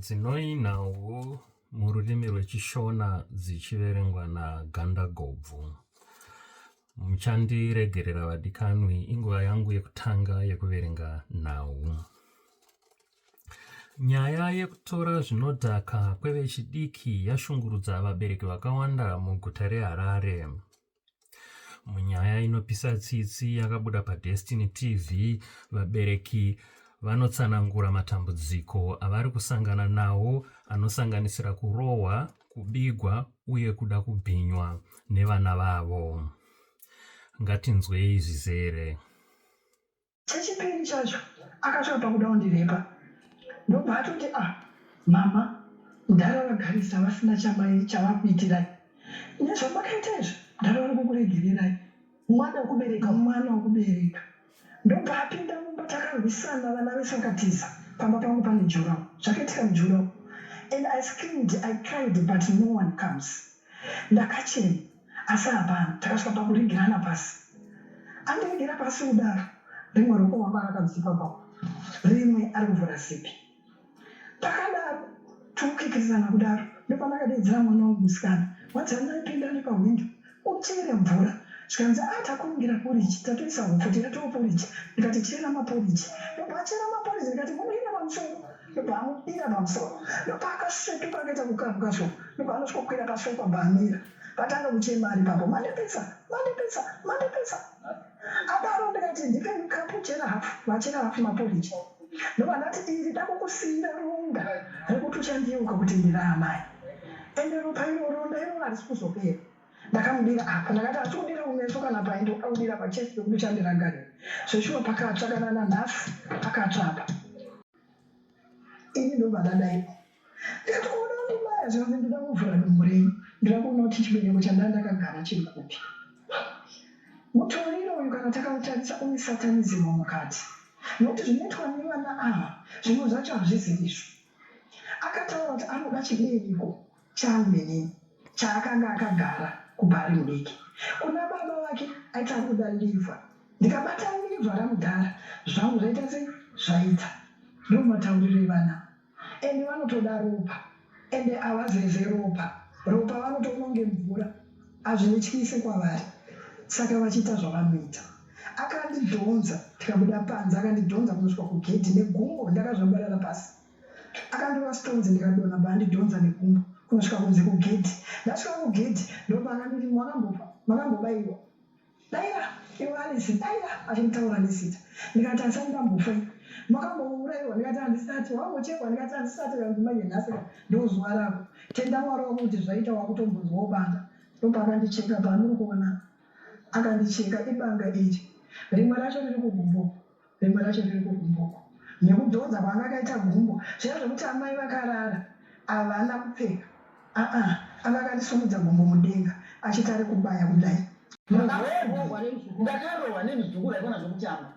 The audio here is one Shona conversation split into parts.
Dzinoinawo mururimi rwechishona dzichiverengwa nagandagobvu. Muchandiregerera vadikanwi, inguva yangu yekutanga yekuverenga nhau. Nyaya yekutora zvinodhaka kwevechidiki yashungurudza vabereki vakawanda muguta reHarare. Munyaya inopisa tsitsi yakabuda paDestiny TV, vabereki vanotsanangura matambudziko avari kusangana nawo anosanganisira kurohwa, kubigwa uye kuda kubhinywa nevana vavo. Ngatinzwei zvizere. Chechipiri chacho akasvika pakuda kundirepa ndobva atoti ah mama mudhara vagarisa vasina chamai chavakuitirai nezvamakaita izvo mudhara vari kukuregererai mwana wekubereka mwana wekubereka ndobva apinda mumba takarwisana vana vese vakatiza pamba pangu pane jurawo zvakaitika mujurawo and i screamed i cried but no one comes ndakachena asi hapana takasvika pakuregerana pasi andiregera pasi kudaro rimwe ruoko wako akadzipa pao rimwe ari kuvhura sipi pakadaro tikukikirizana kudaro ndopanakadaidzira mwana wangu musikana wanzi andaipinda nepahwindo utere mvura zvikanzi a ah, takumbira poriji tatoisa hupfu tikatoa poriji ndikati chera maporiji ndobva achera maporiji ndikati munoina pamusoro ndobva amubira pamusoro ndopaakasvetuka akaita kukabwa zvo ndobva anosvikokwira pasofa bva amira vatanga kuchema ari papo mandipisa mandipisa mandipisa adaro ndikati ndipe mukapu chera hafu vachera hafu maporiji ndobva ndati diri dakukusiyira ronda rekuti uchandiyeuka kuti ndiri amai ende ropa iro ronda iroro harisi kuzopera ndakamudira apa ndakati asi kudira kumeso kana pai ndokuda kudira pachesi pekuti uchandirangarira zveshuwa pakatsva kana nanhasi pakatsva apa ini ndobva ndadaipo ndikati kuona kundibaya zvikanzi ndoda kuvhura dumbu renyu ndoda kuona kuti chibereko chandaa ndakagara chiri kupi mutoriro uyu kana takautarisa une satanizimu mukati nokuti zvinoitwa nevana ava zvimwe zvacho hazviziviswi akataura kuti anoda chibereko changu inini chaakanga akagara kubva ari mudiki kuna baba vake aiti ari kuda livha ndikabata livha ramudhara zvangu zvaita se zvaita ndo matauriro evana ende vanotoda ropa ende avazeze ropa ropa vanotononge mvura azvinityise kwavari saka vachiita zvavanoita akandidhonza tikabuda panze akandidhonza kunosvika kugedhi negumbo ndakazvambarara pasi akandova stones ndikadona bandidhonza nekumbo kunosvika kunze kugedhi ndasvika kugedhi ndopaakanditi makambopa makambobaiwa daira iwe alisi daira achinditaura nesita ndikati asati ndambofa makambouraiwa ndikati handisati wambochekwa ndikati handisati kanzimanye nhasi ndozuva rako tenda mwari wako kuti zvaita wakutombonzwawo banga ndopaakandicheka paanuri kuona akandicheka ibanga iri rimwe racho riri kugumbo Rimwe racho riri kugumbuko nekudhonza kwaanga akaita gumbo zviya zvekuti amai vakarara havana kupfeka aa anga akandisumudza gumbo mudenga achiti ari kubaya kudai ndakarohwa nemuzukuru aikona zvekutamba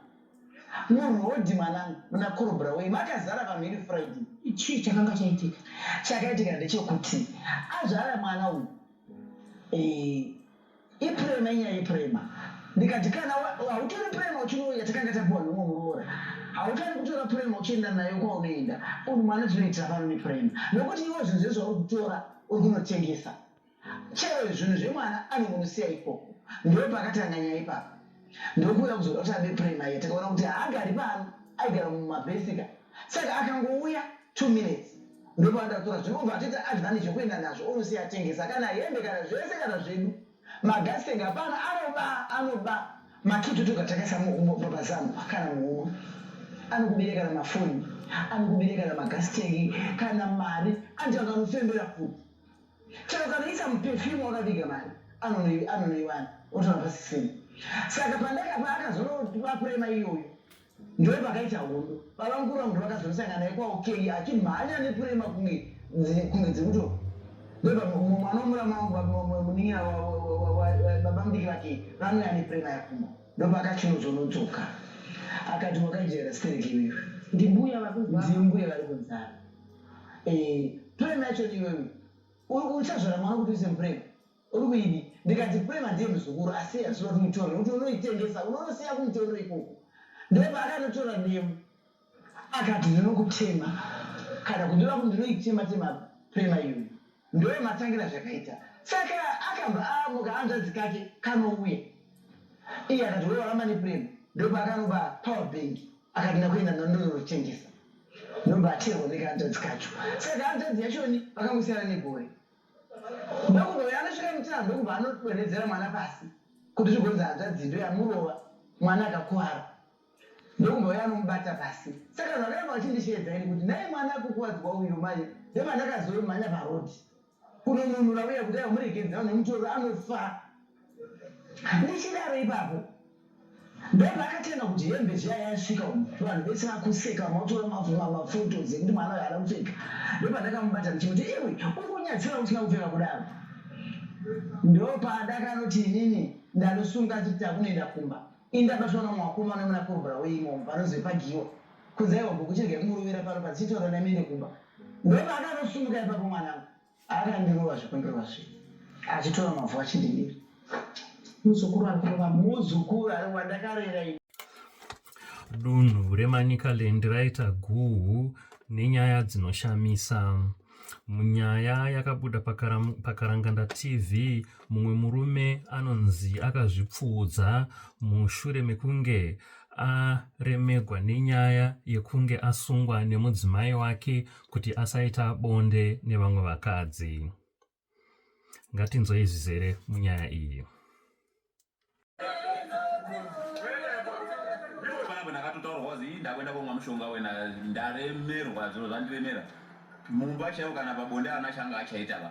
murodhi mwanangu muna korobra wei makazara vanhu iri friday chii chakanga chaitika chakaitika ndechekuti azvara mwana uyu eh, Iprema inyaya iprema. Ndikati kana hautori prema uchinouya takanga tapuwa nhumwe muroora. Hautani kutora prema uchienda nayo kwaunoenda. Unhu mwana tinoitira pano neprema. Nokuti iwo zvinhu zvezvo uri kutora uri kunotengesa. Chero zvinhu zvemwana anongonosiya ikoko. Ndoo pakatanga nyaya ipapo. Ndokuuya kuzoda kuti abe prema iya takaona kuti haagari pano aigara mumabhesika. saka akangouya two minutes ndopaandakutora zvinobva atoita advantage yekuenda nazvo onosiya atengesa kana hembe kana zvese kana zvedu magasitenge hapana anoba anoba makitutu katakaisa mubabazamu kana muhuma anokubire kana mafoni anokubire kana magasitenge kana mari anti akanofembera futi chero kanoisa mupefyumu wakaviga mari anonoiwana otoa pasisini saka pandakapa akazonoapurema iyoyo Ndiwe pakaita hondo baba mukuru vangu vakazosangana naye kwawo kei achimhanya nepurema kunge kunge dzekuto mwana wemurama wangu munin'ina baba mudiki vake vange ane purema yapfuma ndopakachinozonodzoka akati wakajaira stereki iwewe ndimbuya vakunzimbuya vari kunzara purema yacho ni iwewe uchazvara mwana kuti uise mupurema Uri kuidi ndikati kune madii muzukuru asi hazvina kuti mutore kuti unoitengesa unonosiya kumutoro ikoko ndopaakanotora demo akati ndinokutema kana kundira kuti ndinoitema tema prema iyoyo ndoyo matangira zvakaita saka akabva amuka hanzvadzi kake kanouya iye akati we waramba neprema ndoba akanoba power bank akati ndakuenda nandonotengesa ndoba aterwa nekahanzvadzi kacho saka hanzvadzi yachoni vakangosiyana negore Ndokuda uyo anosvika mutana ndokubva anodonhedzera mwana pasi kuti zvigonzi hanzvadzi ndo yamurova mwana akakuvara ndokubva uyo anomubata pasi saka zvakaramba vachindisheedza ini kuti nai mwana akukuvadzwa uyo manje ndopandakazomhanya parodi kunonunura uya kuti amurekedza nemutorwa anofa Ndichidaro ipapo ndobva akatenga kuti hembe zviya yasvika umu vanhu vese vakuseka vamwe vatora maphotos ekuti mwana uyo haana kupfeka ndobva ndakamubata ndichimuti iwe uri kunyadzisira usina kupfeka kudaro ndopadakanoti inini ndanosunga chiti takunoenda kumba indabatwa nomwe wakoma unemuna korobora weimomo panozve pagiwa kunzaiwa gokuchirega kumurovera pano pazichitora nemene kumba ndobva akanosumuka ipapo mwanangu Ari andirova zvekundirova zve. Achitora mavhu achindidira. Muzukuru ari kurova muzukuru ari wandakarera ini. Dunhu reManicaland raita guhu nenyaya dzinoshamisa. Munyaya yakabuda paKaranganda TV, mumwe murume anonzi akazvipfuudza mushure mekunge aremegwa nenyaya yekunge asungwa nemudzimai wake kuti asaita bonde nevamwe vakadzi ngatinzwei zvizere munyaya iyi ndakuenda komwa mushonga wena ndaremerwa zviro zvandiremera mumba chaivo kana pabonde ana changa achaita va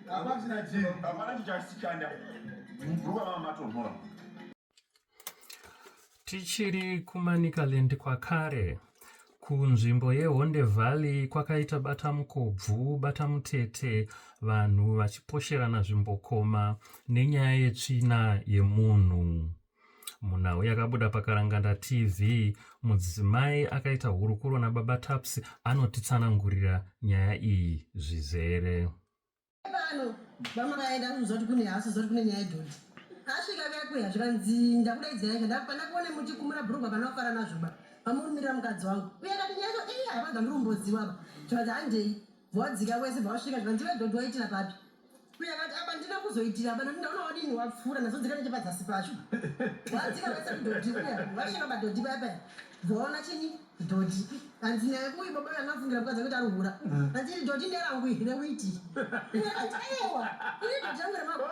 Apa china chii? Hapana chichashanda. Mvura mama matonhora. Tichiri kuManicaland kwakare, kunzvimbo yeHonde Valley kwakaita bata mukobvu bata mutete vanhu vachiposherana zvimbokoma nenyaya yetsvina yemunhu. munhau yakabuda pakaranganda tv mudzimai akaita hurukuro nababa taps anotitsanangurira nyaya iyi zvizere pano vamwe vaenda kunoziva kuti kune hasi zoti kune nyaya yedhoti asvika kakuya zvikanzi ndakudaidzira izvo ndapanda kuone muchikumura bhurugwa kana kufara nazvoba vamurumirira mukadzi wangu uye akati nyaya izo ii hapana dzandiri kumboziwaba zvikanzi handei vawadzika wese vawasvika zvikanzi iwe dhodhi waitira papi uye akati apa ndina kuzoitira apa nekuti ndaona wadini wapfuura ndazodzika nechepadzasi pacho vawadzika wese kudhodhi uya vasvika padhodhi paya paya vaona chini dhodhi hanzi naye uyu baba uyu angafungira kukadza kuti ari hura hanzi iri dhodhi nderangu iri rekuiti uye akati aiwa iri dhodhi rangu remabva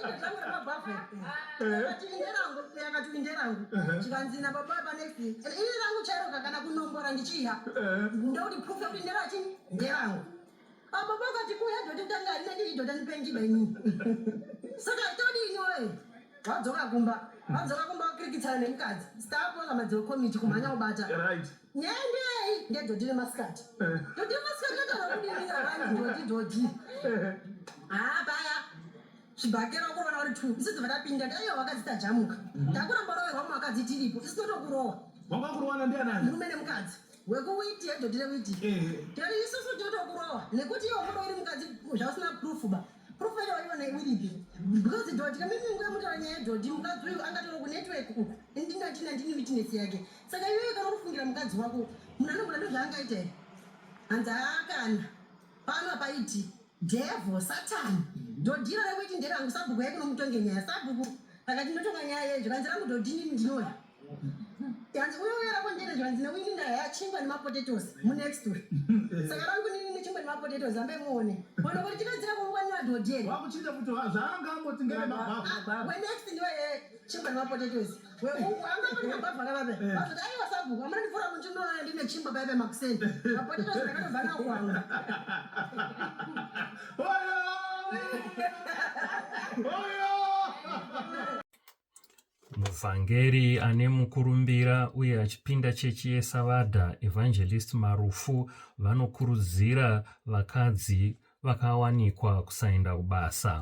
iri dhodhi rangu remabvafe apa pakati kuya doti tanga harina ndiri dota ndipenjiba ini saka todi ini woye vadzoka kumba vadzoka kumba vakirikitsana nemukadzi stapoza madziro komiti kumhanya kubata nyendei ngedoti remasikati doti remasikati rakarakudiriravani doti doti haa paya chibhakera uko vana vari two isu dzibva tapinda ndaiyo vakadzi tajamuka mhm. takuramba roverwa mu vakadzi tiripo isu totokurowa wanga kurowana ndianani murume nemukadzi wekuwiti hedho tiri witi tiri isusu totokurowa nekuti iwo muno iri mukadzi zvausina proof ba proof yacho waiona iripi because dhodhi kamimi nguya mutaura nyaya yedhodhi mukadzi uyu angatoro kunetwork uku ndingatina ndini witness yake saka iyoyo kana kufungira mukadzi wako munhu anogona ndozvaangaita here hanzi haakana Pano apa iti devil satan dhodhiro rekuiti nderangu sabhuku yai kunomutonge nyaya sabhuku pakati ndotonga nyaya yeyo zvikanzi rangu dhodhini ndinoda yanzi uyo uyo rako ndere zvikanzi newini ndaya yachingwa nemapotetosi munext week saka rangu nini nechingwa nemapotetosi ambe muone ono kuti chipedzira kungwanira dhodheri wakuchinja kuti zvaanga amboti ngerewenext ndiwe chingwa nemapotetosi muvhangeri ane mukurumbira uye achipinda chechi yesavadha evangelist marufu vanokurudzira vakadzi vakawanikwa kusaenda kubasa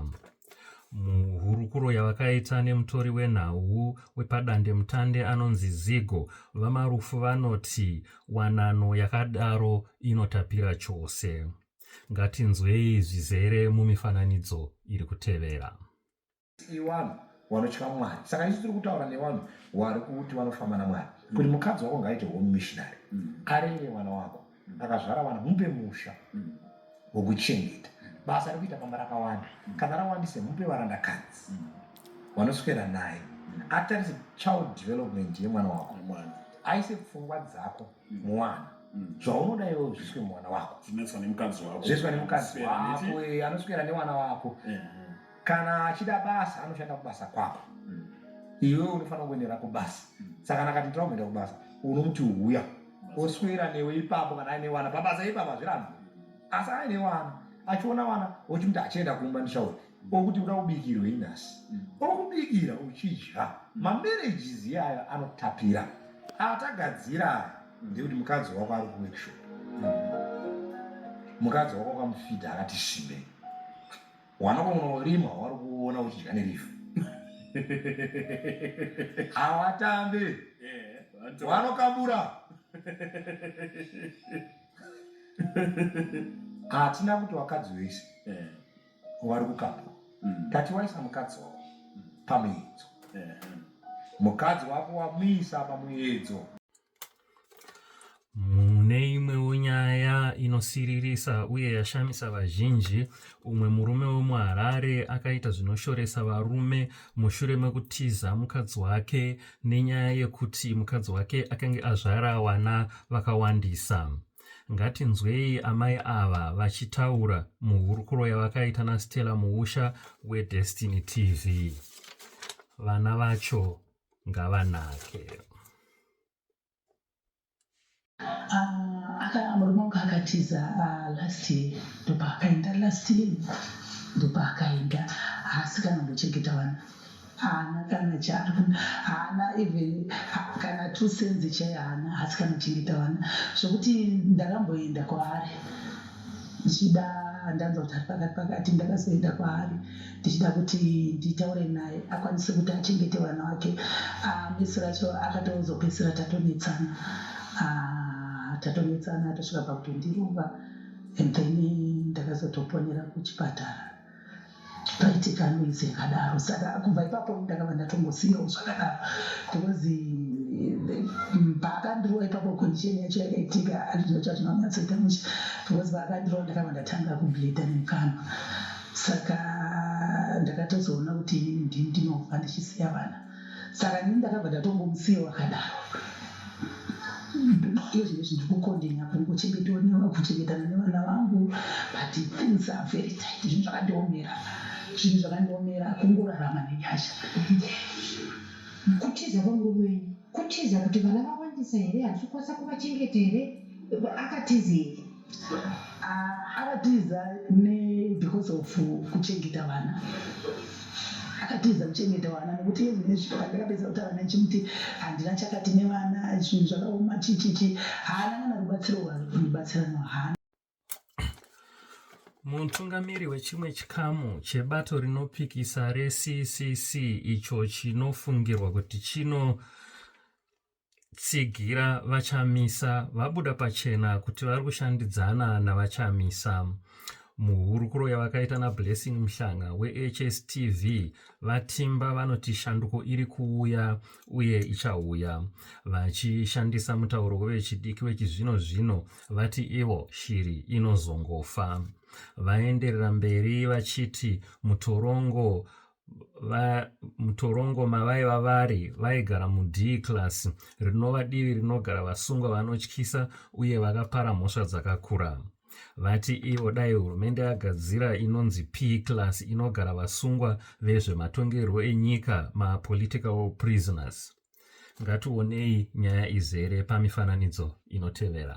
muhurukuro yavakaita nemutori wenhau wepadandemutande anonzi zigo vamarufu vanoti wanano yakadaro inotapira chose ngatinzwei zvizere mumifananidzo iri kutevera iwanhu wanotya mwari saka isu tiri kutaura nevanhu wari kuti vanofamba namwari mm. kuti mukadzi wako ngaite home missionary mm. arere mwana wako mm. akazvara vana mupe musha wokuchengeta basa rekuita pamba rakawanda kana rawandise mupe varandakadzi vanoswera naye atarise child development yemwana wako aise pfungwa dzako muwana zvaunoda iwe zviswe mwana wako zvinoiswa nemukadzi wako zviswa nemukadzi wako anoswera nemwana wako kana achida basa anoshanda kubasa kwako mm. iwewe unofanira kuendera kubasa mm. saka kana akati ndirakuenda kubasa unomuti huya oswera newe ipapo kana aine wana pabasa ipapo hazvirambi asi aine wana achiona wana ochimuti achienda kumba ndichauri okuti uda kubikirwe inasi mm. okubikira uchidya mamerejizi iyayo anotapira atagadzira aya ndekuti mukadzi wako ari kuworkshop mukadzi wako akamufidha akati shimei Wana kunorima wari kuona uchidya nerifu. Hawatambe. Eh, Wanokabura. Hatina kuti wakadzi wese. Eh. Wari kukabura. Mm. Tati waisa mukadzi wako mm. pamuyedzo. Eh. Mukadzi wako wamuisa pamuyedzo. Mune imwewo nyaya inosiririsa uye yashamisa vazhinji, umwe murume wemuHarare akaita zvinoshoresa varume mushure mekutiza mukadzi wake nenyaya yekuti mukadzi wake akange azvara wana vakawandisa. Ngatinzwei amai ava vachitaura muhurukuro yavakaita naStella Muusha weDestiny TV. Vana vacho ngavanake ah, murume wangu akatiza ah, last year ndopaakaenda last year ndopaakaenda haasi kana mbochengeta vana haana kana charo haana even kana two senzi chaiyo haana haasi kana chengeta vana zvokuti ndakamboenda kwaari ndichida ndanzwa kuti ari pakati pakati ndakazoenda kwaari ndichida kuti nditaure naye akwanise kuti achengete vana vake ah, misi racho akatozopedzisira tatonetsana ah, tatonetsana tosvika pakutondirova and then ndakazotoponera kuchipatara paitika noise yakadaro saka kubva ipapo ndakava ndatongosiyawo zvakadaro because eh, paakandirova ipapo condition yacho yakaitika azvino chazvinonyatsoita musha because paakandirova ndakava ndatanga kubleda nemukanwa saka ndakatozoona kuti inini ndini ndinobva ndichisiya vana saka ini ndakabva ndatongomusiyawo akadaro iyo zvinhu zviri kukondenya kuri kuchengetwa kuchengetana nevana vangu but things are very tight zvinhu zvakandiomera zvinhu zvakandiomera kungorarama nenyasha kutiza kwamurume wenyu kutiza kuti vana vawandisa here hazvikwanisa kuvachengeta here akatizei akatiza ne because of kuchengeta vana akatiza kuchengeta vana nekuti yezu nezvito pandakapedza kutaura naye chimuti handina chakati nevana zvinhu zvakaoma chichichi haana kana rubatsiro rwarikundibatsira no haana mutungamiri wechimwe chikamu chebato rinopikisa reccc icho chinofungirwa kuti chino tsigira vachamisa vabuda pachena kuti vari kushandidzana navachamisa muhurukuro yavakaita nablessing muhlanga wehstv vatimba vanoti shanduko iri kuuya uye ichauya vachishandisa mutauro wevechidiki wechizvino zvino vati ivo shiri inozongofa vaenderera mberi vachiti mutorongo mutorongo mavaiva vari vaigara mud class rinova divi rinogara vasungwa vanotyisa uye vakapara mhosva dzakakura vati ivo dai hurumende yagadzira inonzi p class inogara vasungwa vezvematongerwo enyika mapolitical prisoners ngationei nyaya izere pamifananidzo inotevera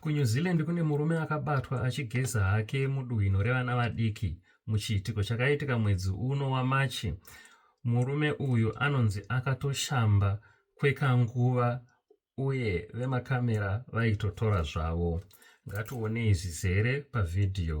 kunew zealand kune murume akabatwa achigeza hake muduhwino revana vadiki muchiitiko chakaitika mwedzi uno wamachi murume uyu anonzi akatoshamba kwekanguva uye vemakamera vaitotora zvavo ngatione izvizere pavhidhiyo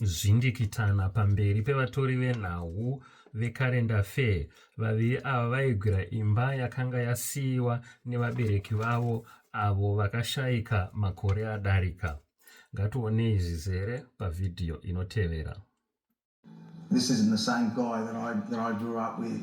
zvindikitana pamberi pevatori venhau veCarenda Fair. Vaviri ava vaigwira imba yakanga yasiyiwa nevabereki vavo avo vakashaika makore adarika. Ngationei zvizere pavhidhiyo inotevera. This isn't the same guy that I, that I grew up with.